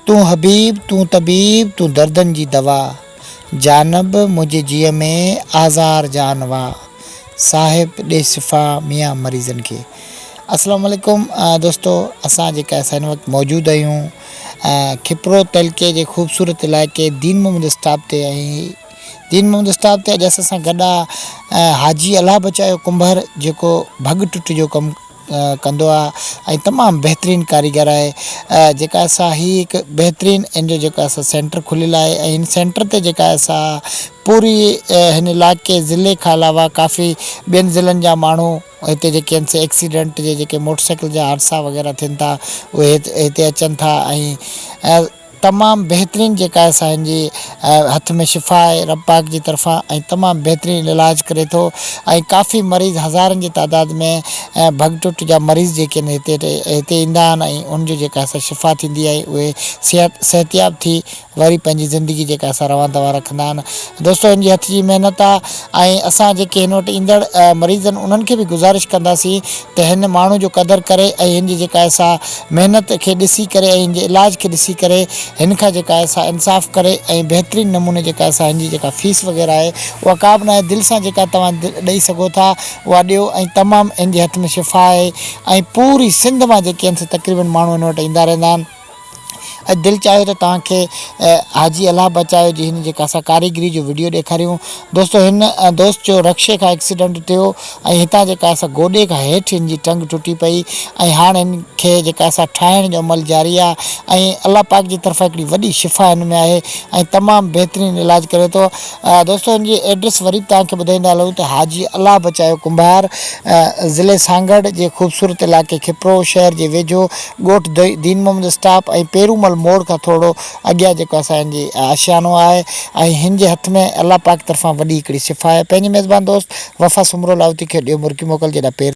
تون حبيب تون طبيب تون دردن جي دوا جانب منهنجي جيء ۾ آزار جان وا صاحب ڏي شفا ميان مريضن کي. السلام عليڪم دوستو اسان جيڪا اسان هن وقت موجود آهيون کپرو تعلقي جي خوبصورت علائقي دين محمد اسٽاپ تي ۽ دين محمد اسٽاپ تي اڄ اسان سان گڏ آ حاجي الله بچايو ڪنڀر جيڪو ڀڳ ٽٽ جو ڪم ڪندو آ ۽ تمام بهترين ڪاريگر آهي جيڪا اسان هي هڪ بهترين ان جو جيڪا اسان سينٽر کليل آهي ۽ هن سينٽر تي جيڪا اسان پوري هن علائقي ضلعي کان علاوه ڪافي ٻين ضلعن جا ماڻهو هتي جيڪي آهن سي ايڪسيڊنٽ جي جيڪي موٽر سائيڪل جا حادثا وغيره ٿين ٿا اهي هتي اچن ٿا ۽ تمام بهترين جيڪا آهي سا هن جي هٿ ۾ شفا آهي رب پاڪ جي طرفان ۽ تمام بهترين هن علاج ڪري ٿو ۽ ڪافي مريض هزارن جي تعداد ۾ ڀڳ ٽٽ جا مريض جيڪي آهن هتي هتي ايندا آهن ۽ ان جو جيڪا آهي سا شفا ٿيندي آهي اهي صحت صحتياب ٿي وري پنهنجي زندگي جيڪا آهي سا روان دوان رکندا آهن دوستو هن جي هٿ جي محنت آهي ۽ اسان جيڪي هن وٽ ايندڙ مريض آهن انهن کي به گذارش ڪنداسين ته هن ماڻهو جو قدر ڪري ۽ هن جي جيڪا سا محنت کي ڏسي ڪري ۽ هن جي علاج کي ڏسي ڪري هن کان جيڪا سا انصاف ڪري ۽ بهترين نموني جيڪا سا هن جي جيڪا فيس وغيره آهي اها ڪابه ناهي دل سان جيڪا توهان ڏئي سگهو ٿا اها ڏيو ۽ تمام هن جي هٿ ۾ شفا آهي ۽ پوري سنڌ مان جيڪي هن سا تقريبن ماڻهو هن وٽ ايندا رهندا آهن. اڄ دل چاهيو ته توهان کي حاجي الله بچايو جي هن جيڪا اسان ڪاريگري جو وڊيو ڏيکاريون دوستو هن دوست جو رڪشي کان ايڪسيڊنٽ ٿيو ۽ هتان جيڪا اسان گوڏي کان هيٺ هن جي ٽنگ ٽٽي پئي ۽ هاڻ هن کي جيڪا اسان ٺاهڻ جو عمل جاري آهي ۽ الله پاڪ جي طرفان هڪڙي وڏي شفا هن ۾ آهي ۽ تمام بهترين علاج ڪري ٿو دوستو هن جي ايڊريس وري به توهان کي ٻڌائيندا هلون ته حاجي الله بچايو ڪنڀار ضلعي سانگهڙ جي خوبصورت علائقي کپرو شهر جي ويجهو ڳوٺ دين محمد اسٽاپ ۽ پيرو مل موڙ کان ٿورڙو اڳيان جيڪو اسان جي آشيانو آهي ۽ هن جي هٿ ۾ الله پاڪ طرفان وڏي هڪڙي شفا آهي پنهنجي ميزبان دوست وفا سومرو لاهوتي کي ڏيو مرڪي موڪل جيڏانهن پيرو